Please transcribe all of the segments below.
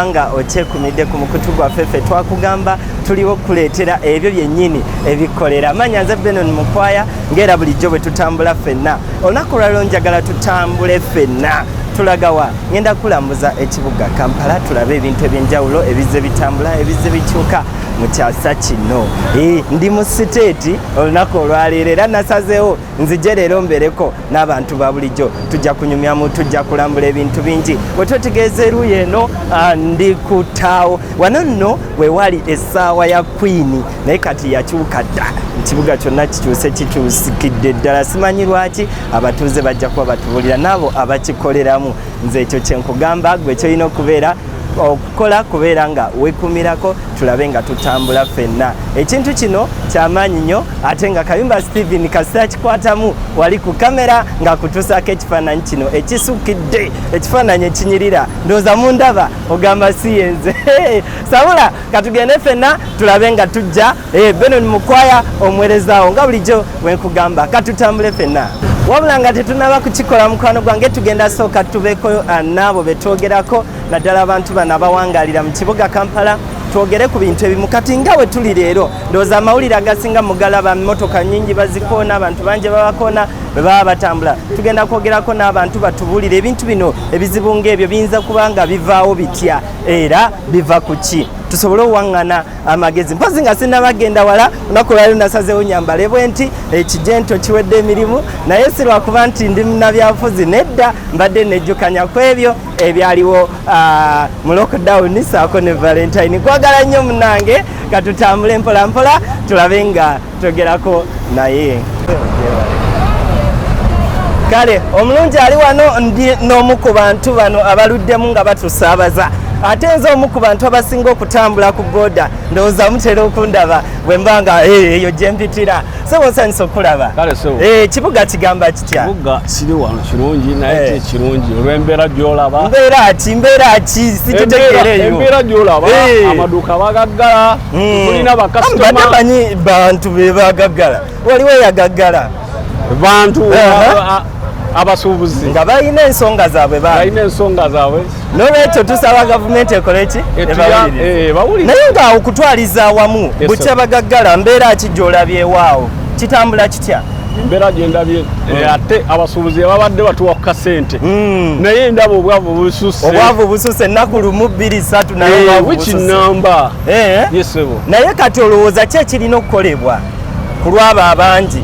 nga okyekumidde ku mukutu gwaffe ffe twakugamba tuliwo okukuleetera ebyo byennyini ebikolera manya nze benon mukwaya ngaera bulijjo bwe tutambula ffenna olunaku lwaliro njagala tutambule ffenna tulagawa ngenda kulambuza ekibuga kampala tulabe ebintu ebyenjawulo ebizze bitambula ebizze bikyuka mu kyasa kino eh, ndi mu siteeti olunaku olwaleero era nasazeewo nzije leero mbereko n'abantu ba bulijjo tujja kunyumyamu tujja kulambula ebintu bingi bwe twetegeeza eruuyi eno ah, ndi ku taawo wano nno we wali essaawa ya kwini naye kati yakyuka dda ekibuga kyonna kikyuse kikyusikidde ddala simanyi lwaki abatuuze bajja kuba batubuulira n'abo abakikoleramu nze ekyo kyenkugamba gwe kyolina okubeera okukola kubeera nga wekumirako tulabe nga tutambula fenna ekintu kino kyamaanyi nnyo ate nga kayumba steven kasita kikwatamu wali ku kamera ng'akutuusaako ekifaananyi kino ekisukidde ekifaananyi ekinyirira ndooza mu ndaba ogamba siyenze sabula katugende fenna tulabe nga tujja Hey, eh, Benon Mukwaya omuwerezawo nga bulijjo wenkugamba katutambule fenna wabula nga tetunaba kukikola mukwano gwange tugenda sooka tubeeko ah, naabo betwogerako naddala abantu bano abawangalira mu kibuga kampala twogere ku bintu ebimu kati nga we tuli leero ndowooza amawulire agasinga mugalaba mmotoka nyingi bazikoona abantu bangi babakoona bwe baba batambula tugenda kwogerako n'abantu batubuulire ebintu bino ebizibu ng'ebyo biyinza kuba nga bivaawo bitya era biva ku ki tusobole owaŋŋana amagezi mpozi nga sinaba genda wala lunaku lwali lunasazewo nyambale bwe nti ekijento kiwedde emirimu naye si lwakuba nti ndi munabyabufuzi nedda mbadde nejjukanya ku ebyo ebyaliwo ah, mu lockdown saako ne valentine kwagala nnyo munange katutambule mpolampola tulabe nga togerako naye kale omulungi ali wano ndi n'omu ku bantu bano abaluddemu nga batusaabaza ate nze omu ku bantu abasinga okutambula ku boda ndowooza mutera okundaba bwe mba nga eh, eyo gyempitira sebonsanyisa okulaba eh, ekibuga kigamba kibuga kiri wano kirungi naye eh. tekirungi olwembeera gyolaba mbeera ki mbeera ki sikitegeereyo embeera gyolaba eh. amaduuka bagaggala hmm. tulina bakasitomamanyi bantu be bagaggala waliwo eyagaggala bantu abasuubuzi nga balina ensonga zaabwe balina ensonga zaabwe nolwekyo tusaba gavumenti ekole ki eh, naye nga okutwaliza awamu bukya bagaggala mbeera ki gyolabyewaawo kitambula Tya. embeera gyendabye eh, mm. ate abasuubuzi babadde batuwa ku kasente mm. naye ndaba obwavu bususe obwavu bususe ennaku lumu bbiri satu nayewiki eh, namba eh? yesebo naye kati olowooza ki ekirina okukolebwa ku lwabo abangi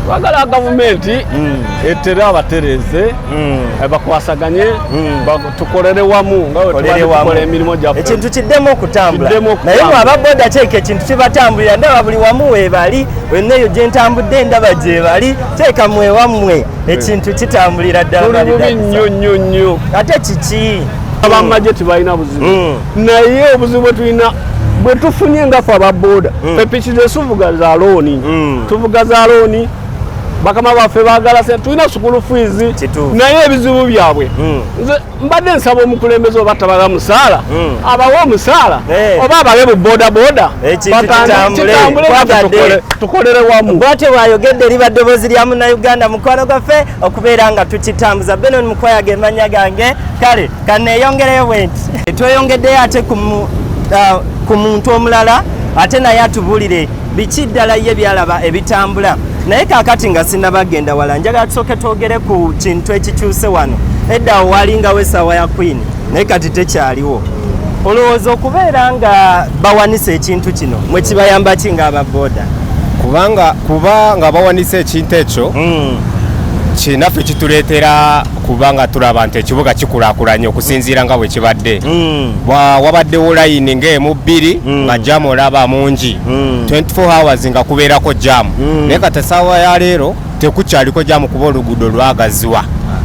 bagala gavumenti mm. etere abatereze bakwasaganye tukolere wamu nga wetukola emirimu gyaffe ekintu kiddemu okutambula naye mwe aba boda teeka ekintu kibatambulira ndaba buli wamu weebali wenna eyo gye ntambudde ndaba gyebali teeka mwewammwe ekintu kitambulira ddala nnyo nnyo nnyo ate kiki abamagye hmm. tebalina buzibu hmm. naye obuzibu bwetulina bwetufunye ngafe aba boda hmm. epiki zesuvuga za looni tuvuga za looni bakama baffe bagala sente tulina sukulu fiizi naye ebizibu byabwe hmm. nze mbadde nsaba omukulembeze oba tabaga musaala hmm. abawe omusaala eh. oba abawe bu bodaboda eh, tukolere wamu bwatyo bwayogedde liba ddoboozi lya munauganda mukwano gwaffe okubeera nga tukitambuza benon mukwaya gemanya gange kale kaneyongereyo bwenti tweyongeddeyo ate ku uh, muntu omulala ate naye atubulire biki ddala ye byalaba ebitambula naye kakati nga sinabagenda wala njagala tusooke twogere ku kintu ekikyuse wano edda owalingawo esaawa ya queen naye kati tekyaliwo olowooza okubeera nga bawanisa ekintu kino mwe kibayamba ki nga ababoda kubanga kuba nga bawanisa ekintu ekyo mm. kinaffe kituleetera kubanga tulaba nti ekibuga kikulakulanye okusinziira nga bwe kibadde mm. wabaddewo layini ngaemu bbiri mm. nga jamu olaba mungi 24 mm. hours nga kubeerako jamu naye kati esaawa ya leero tekukyaliko jamu kuba oluguudo lwagaziwa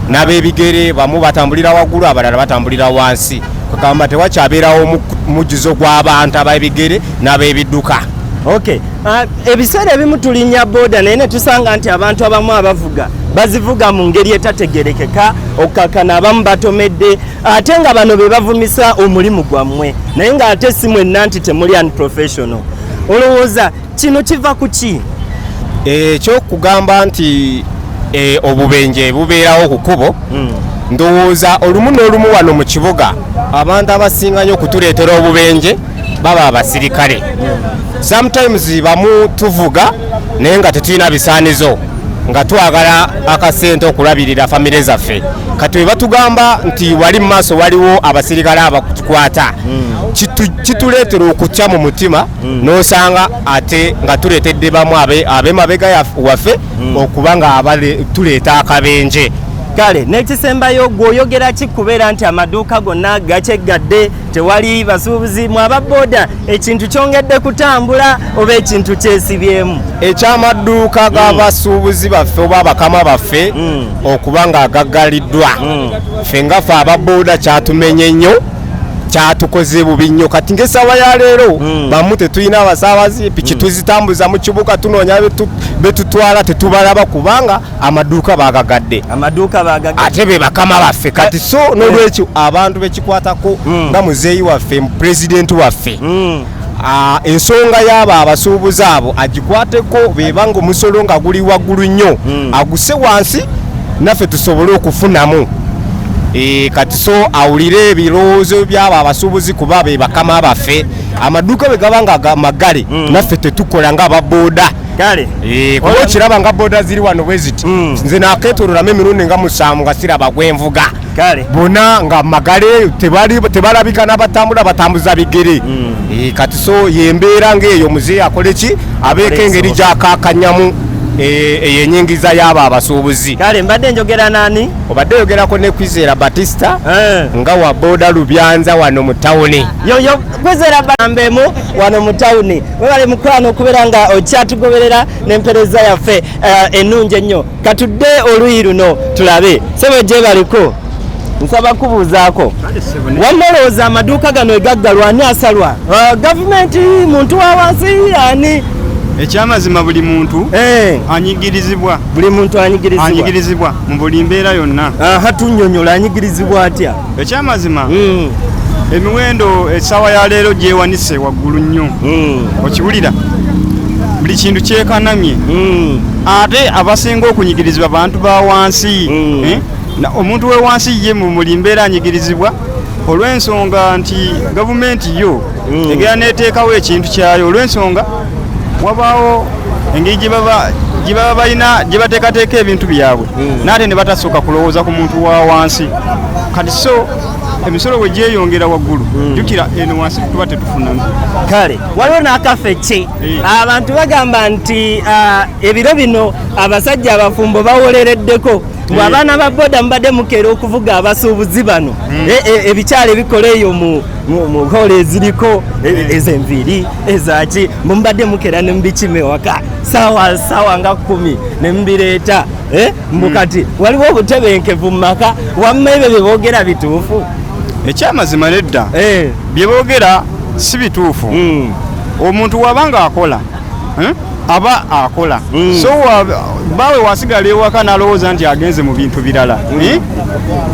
n'abebigere bamu batambulira waggulu abalala batambulira wansi kwekamba tewakyabeerawo mujjuzo gw'abantu abebigere n'abebidduka okay Ah, ebiseera ebimu tulinnya booda naye ne tusanga nti abantu abamu abavuga bazivuga mu ngeri etategerekeka okukakana abamu batomedde ate nga bano be bavumisa omulimu gwammwe naye ng'ate si mwenna nti temuli unprofessional olowooza kino kiva ku ki ekyokugamba eh, nti eh, obubenje bubeerawo ku kubo hmm. ndowooza olumu n'olumu wano mu kibuga abantu abasinga nyo okutuleetera obubenje baba abasirikale sometimes bamu tuvuga naye nga tetulina bisaanizo nga twagala akasente okulabirira famire zaffe kati we batugamba nti wali mu maaso waliwo abasirikale abatukwata kituleetera okutya mu mutima mm. n'osanga ate nga tuleetedde bamu abemabega waffe mm. okuba nga tuleeta akabenje kale n'ekisembayo gweoyogera ki kubeera nti amaduuka gonna gakyegadde tewali basuubuzi mu aba boda ekintu kyongedde kutambula oba ekintu kyesibyemu ekyamadduuka g'abasuubuzi mm. baffe oba abakama baffe mm. okuba nga agaggaliddwa mm. ffe nga fe aba boda kyatumenye nnyo kyatukoze bubi nnyo kati ngaesawa ya leero hmm. bamu tetulina abasaabazi piki hmm. tuzitambuza mu kibuga tunoonya betutwala tetubalaba kubanga amaduuka bagagadde amaduuka bagagadde ate be bakama baffe eh, kati so eh. nolwekyo abantu bekikwatako hmm. nga muzeeyi waffe pulezidenti waffe hmm. ah, ensonga yaabo abasuubuzi abo agikwateko beba nga omusolo nga guli waggulu nnyo hmm. aguse wansi naffe tusobole okufunamu eh, kati so awulire ebirowoozo byabo abasuubuzi kuba be bakama baffe amaduuka bwe gaba nga magale naffe tetukola nga ababoda kale eh, kuba okiraba nga boda ziri wano bwe ziti hmm. nze naketololamu emirundi nga musanvu nga siraba gwenvuga bona nga magale tebalabika nabatambula batambuza bigere hmm. eh, kati so yembeera ngaeyo muzeeyi akole ki abeeko engeri gyakakanyamu eh, eyo enyingiza yaabo abasuubuzi kale mbadde njogera nani obadde oyogerako ne kwizera batista nga wa boda lubyanza wano mu tawuni yoyo kwizera bambemu wano mu tawuni webale mukwano okubeera nga okyatugoberera n'empereza yaffe eh, ennungi ennyo katudde oluyi luno tulabe sebo gyebaliko nsaba kubuuzaako wamma olowooza amaduuka gano egaggalwa ani asalwa eh, gavumenti muntu wa wansi ani ekyamazima buli muntu eh. anyigirizibwa buli muntu anyigirizibwa mu buli mbeera yonna hatunyonyola anyigirizibwa atya ekyamazima mm. emiwendo esaawa ya leero gyewanise waggulu nnyo mm. okiwulira buli kintu kyekanamye mm. ate abasinga okunyigirizibwa bantu ba wansi mm. eh? omuntu wewansi ye mumuli mbeera anyigirizibwa olw'ensonga nti gavumenti yo mm. egera neteekawo ekintu kyayo olw'ensonga wabaawo engeri gye baba gye baba balina gye bateekateeka ebintu byabwe hmm. naate ne batasooka kulowooza ku muntu wa wansi kati so emisolo bwe gyeyongera waggulu hmm. jukira eno wansi tuba tetufuna kale waliwo n'akafe ki eh. abantu bagamba nti ah, ebiro bino abasajja abafumbo bawolereddeko mbu abaana ba boda mubadde mukeera okuvuga abasuubuzi bano hmm. e, e, ebikyalo ebikola eyo mu mukola eziriko e, eh. ezenviiri ezaki mumbadde mukera nemubikima ewaka sawa sawa nga kumi nemubireeta eh? mbukati hmm. waliwo obutebenkevu mumaka wamma ebyo byebogera bituufu ekyamazima nedda eh. byebogera si bituufu hmm. omuntu wabanga akola aba akola mm. so bawe wasigala ewaka nalowooza nti agenze mu bintu birala mm. eh?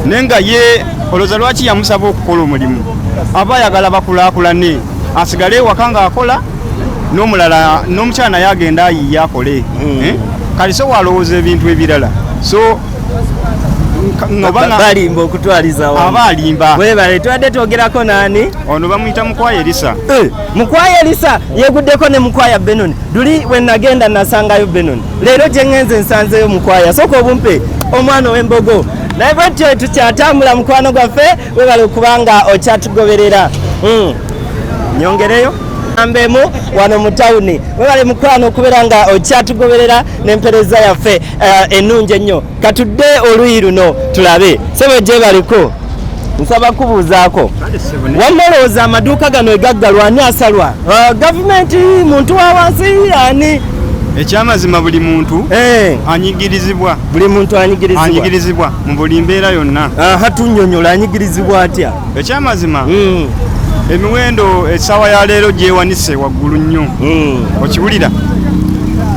naye nga ye olowooza lwaki yamusaba okukola omulimu aba ayagala bakulakulane asigale ewaka nga akola nomulala nomukyala naye agenda ayiye akole mm. eh? kati so walowooza ebintu ebirala so balimba okutwaliza aba alimba webale tubadde twogerako nani ono bamuyita mukwayerisa eh. mukwaya elisa yeguddeko ne mukwaya benoni duli wenagenda nasangayo benoni leero gyengenze nsanzeyo mukwaya soka obumpe omwana owembogo naye bwetyo tukyatambula mukwano gwaffe webale okubanga okyatugoberera hmm. nyongereyo ambemu wano mu tawuni webale mukwano okubeera nga okyatugoberera n'empereza yaffe eh, ennungi ennyo katudde oluyi luno tulabe sebo gyebaliko nsaba kubuuzaako wamma olowooza amaduuka gano egaggalwa ani asalwa uh, gavumenti muntu wa wansi ani ekyamazima buli muntu eh. anyigirizibwa buli muntu anyigirizibwa mu buli mbeera yonna hatunyonyola anyigirizibwa atya ekyamazima hmm. emiwendo essaawa ya leero gyewanise waggulu nnyo hmm. okiwulira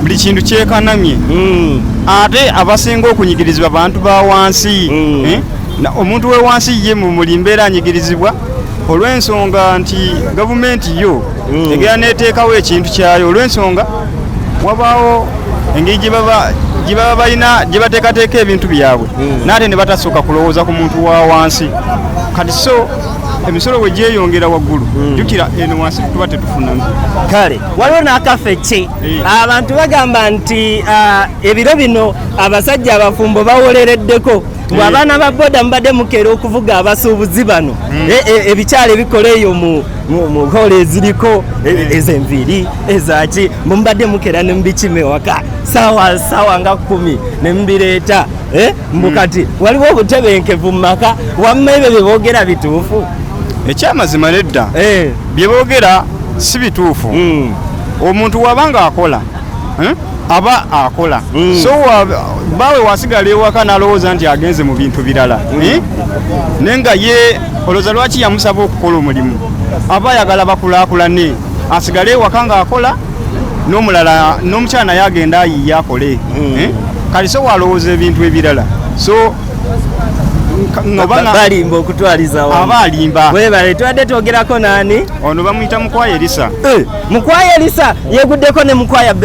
buli kintu kyekanamye hmm. ate abasinga okunyigirizibwa bantu ba wansi mm. eh? omuntu wewansi ye mumuli mbeera anyigirizibwa olw'ensonga nti gavumenti yo mm. egera neteekawo ekintu kyayo olw'ensonga wabaawo engeri gyebaba balina gyebateekateeka ebintu byabwe mm. naate ne batasooka kulowooza ku muntu wa wansi kati so emisolo bwe gyeyongera waggulu mm. jukira eno wansi tuba tetufuna kale waliwo n'akafe ki abantu bagamba nti ah, ebiro bino abasajja abafumbo bawolereddeko ngu abaana ba boda mubadde mukeera okuvuga abasuubuzi bano hmm. e, e, ebikyala ebikola eyo mu hoola eziriko e, hmm. ezenviiri ezaki mubadde mukeera ne mubikima ewaka sawa sawa nga kumi ne mubireeta eh, mbu hmm. kati waliwo obutebenkevu mu maka wamma ebyo bye boogera bituufu ekyamazima nedda eh. bye boogera si bituufu omuntu wabanga akola eh, aba akola mm. so bawe wasigala ewaka nalowooza nti agenze mu bintu birala mm. eh? naye nga ye olowooza lwaki yamusaba okukola omulimu aba ayagala bakulakulane asigale ewaka ngaakola nomulala nomukyala naye agenda ayiye akole mm. eh? kati so walowooza ebintu ebirala so balimba okutwaliza aba alimba webale tubadde twogerako nani ono bamuyita mukwaya elisa eh. mukwaya elisa yeguddeko ne mukwaya